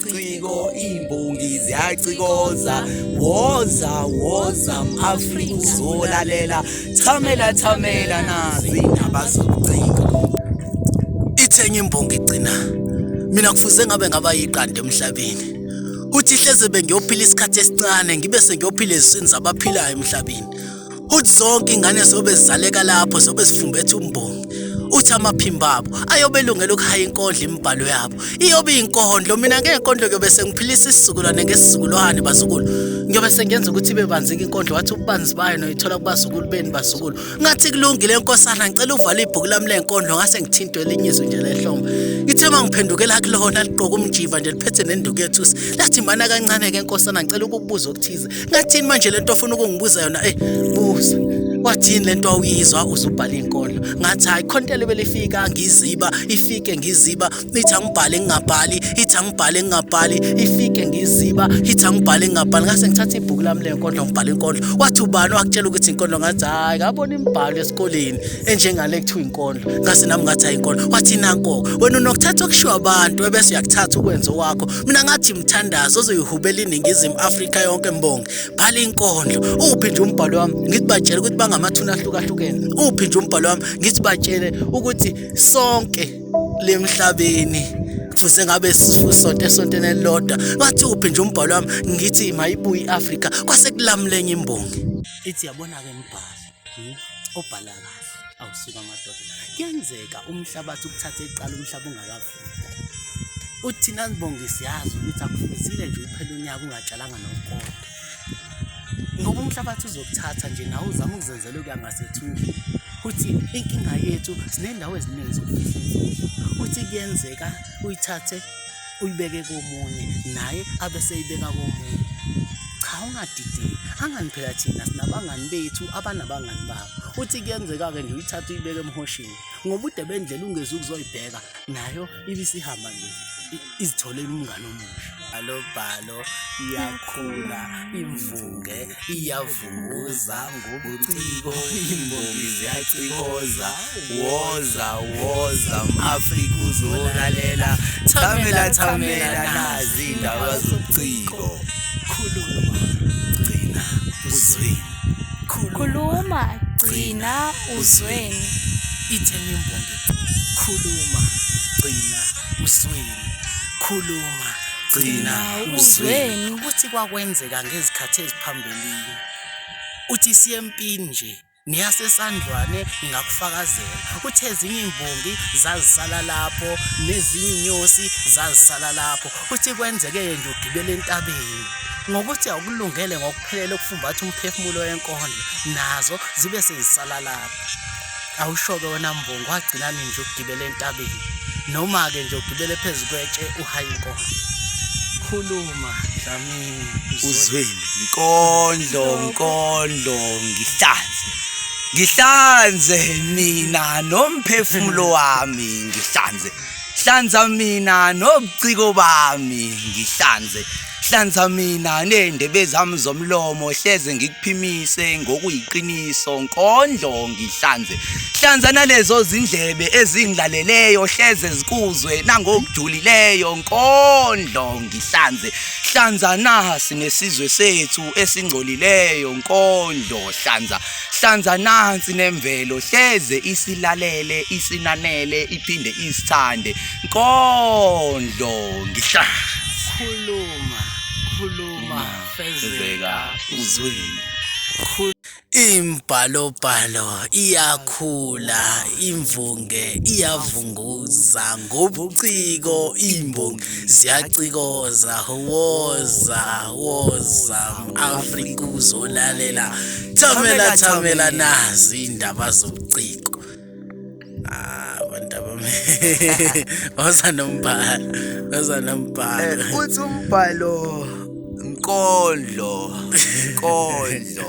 ciko imbongi ziyacikoza woza woza mafrika uzolalela thamela thamela nazi indaba zobuciko ithenge imbongi igcina mina kufuze ngabe ngaba yiqanda emhlabeni kuthi hleze bengiyophila isikhathi esincane ngibe sengiyophila eziswini zabaphilayo emhlabeni uthi zonke ingane zobe zizaleka lapho zobe zifumbethe umbongi uthi amaphimba abo ayobe elungela ukuhaya inkondlo imibhalo yabo iyobe iyinkondlo mina ngenkondlo kuyobe sengiphilisa isizukulwane ngesizukulwane bazukulu ngiyobe sengenza ukuthi ibe banzika inkondlo wathi ububanzi bayo noyithola kubazukulu beni bazukulu ngathi kulungile nkosana ngicela uvale ibhuku lami lenkondlo ngase ngithintwe elinye izwi nje lehlombe ithe uma ngiphendukela kulona liqoka umjiva nje liphethe nenduku yethusi lathi mana kancane-ke nkosana ngicela ukukubuza okuthize ngathini manje lento ofuna ukungibuza yona eh buza wathini lento awuyizwa uzubhala inkondlo ngathi hayi khontele belifika ngiziba ifike ngiziba ithi angibhale ngingabhali ithi angibhale ngingabhali ifike ngiziba ithi angibhale ngingabhali ngase ngithatha ibhuku lami le nkondlo ngibhala inkondlo wathi ubani wakutshela ukuthi inkondlo ngathi hayi ngabona imbhalo esikoleni enjengale kuthiwa inkondlo ngase nami ngathi hayi inkondlo wathi nanko wena unokuthatha okushiwa abantu ebese uyakuthatha ukwenza owakho mina ngathi mthandazo ozoyihubela iningizimu afrika yonke mbongi bhala inkondlo uphi nje umbhalo wami ngithi batshele ukuthi bangamathuna ahlukahlukene uphi nje umbhalo wami ngithi batshele ukuthi sonke lemhlabeni kufuze ngabe sisonto esontweni elilodwa wathi uphi nje umbhalo wami ngithi mayibuye i-afrika kwase kulamulenye imbongi ithi yabona-ke mbhalo Hmm? obhala kahle awusuka amadoda kuyenzeka umhlabathi ukuthathe eqala umhlaba ungakavumi uthi nanibonge siyazi ukuthi akufuzile nje uphela unyaka ungatshalanga nokukodwa ngoba umhlabathi uzokuthatha nje nawe uzama ukuzenzela okuya ngasethunjini uthi inkinga yethu sinendawo eziningi zokufihla uthi kuyenzeka uyithathe uyibeke komunye naye abe seyibeka komunye cha ungadideki angani phela thina sinabangani bethu abanabangani babo uthi kuyenzeka-ke nje uyithatha uyibeke emhoshini ngobude bendlela ungezi ukuzoyibheka nayo ibisihamba nje izitholele umngane omusha alobhalo Impilo iyakhula imvunge iyavunguza ngobuciko imbongi ziyacikoza woza woza mafrika uzolalela thamela thamela nazi indaba zobuciko khuluma gcina uzweni khuluma gcina uzweni ithenya imbongi khuluma gcina uzweni Khuluma, gcina Hawu, uzweni uzweni. ukuthi kwakwenzeka ngezikhathi eziphambilini. Uthi siye empini nje niyasesandlwane ngingakufakazela ukuthi ezinye imbongi zazisala lapho nezinye inyosi zazisala lapho uthi kwenzeke-ke nje ugibela entabeni ngokuthi awukulungele ngokuphelele ukufumbatha umphefumulo wenkondlo nazo zibe sezisala lapho awushoke wena mbongo wagcinani nje ukugibela entabeni noma-ke nje ugibele phezu kwetshe uhayi inkomo khuluma dlamini uzweni nkondlo nkondlo ngihlanze ngihlanze mina nomphefumulo wami ngihlanze hlanza mina nobuciko bami ngihlanze hlanza mina nendebe zami zomlomo hleze ngikuphimise ngokuyiqiniso nkondlo ngihlanze hlanza nalezo zindlebe ezingilaleleyo hleze zikuzwe nangokujulileyo nkondlo ngihlanze hlanza nasi nesizwe sethu esingcolileyo nkondlo hlanza Hlanza nansi nemvelo hleze isilalele isinanele iphinde isithande nkondlo ngihla khuluma khuluma fezeka uzwini Imbhalobhalo iyakhula, imvunge iyavunguza, ngobuciko imbongi ziyacikoza woza woza afrika uzolalela thamela thamela nazi indaba zobuciko ah abantu abami baza nombhala baza nombhala eh, uthi umbhalo nkondlo nkondlo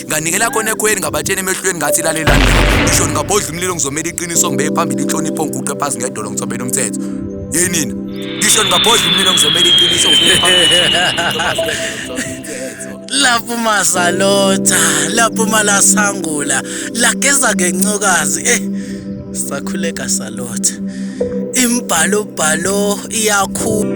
nganikela khona ekhweni ngabatshena emehlweni ngathi lalelani ngisho ngingabhodla umlilo ngizomela iqiniso ngibeke phambili inhlonipho ngiguqe phansi ngedolo ngithobela umthetho ye nina ngisho ngingabhodla umlilo ngizomela iqiniso ngibeke phambili lapho masalotha lapho malasangula lageza ngencokazi eh sakhuleka salotha imbhalo bhalo iyakhula